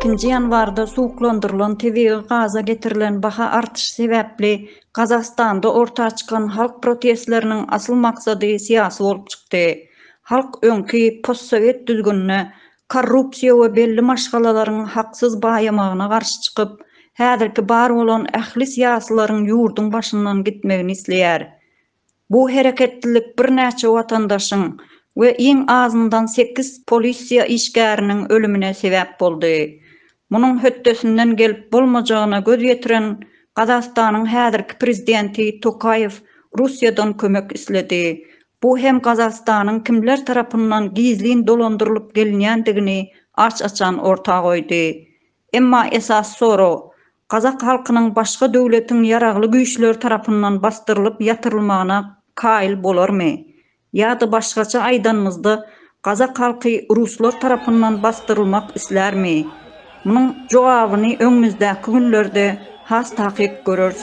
Nji ýanwarda suwuklandyrylan tebigy gaza getirilen baha artyşy sebäpli Gazagystanda orta çykan halk protestleriniň asyl maksady syýasy bolup çykdy. Halk öňki postsowet düzgünine korrupsiýa we belli maşgalalaryň haksyz baýamagyna garşy çykyp, häzirki bar bolan ähli syýasylaryň ýurduň başyndan gitmegini isleýär. Bu hereketlilik birnäçe watandaşyň we iň azyndan sekiz polisiýa işgäriniň ölümine sebäp boldy. Munuň hötdesinden gelip bolmajagyna göz ýetiren Gazagystanyň häzirki prezidenti Tokaýew Russiýadan kömek isledi, Bu hem Gazagystanyň kimler tarapyndan gizlin dolandyrylyp gelinýändigini aç-açan orta goýdy. Emma esasy sorag, gazak halkynyň başga döwletiň ýaragly güýçleri tarapyndan basdyrylyp ýatyrylmagyna kaýyl bolarmy? Ýa-da başgaça aýdanymyzda, Gazak halky ruslar tarapyndan basdyrylmak islärmi? Munuň jogabyny öňümizdäki günlerde has takyk göreris.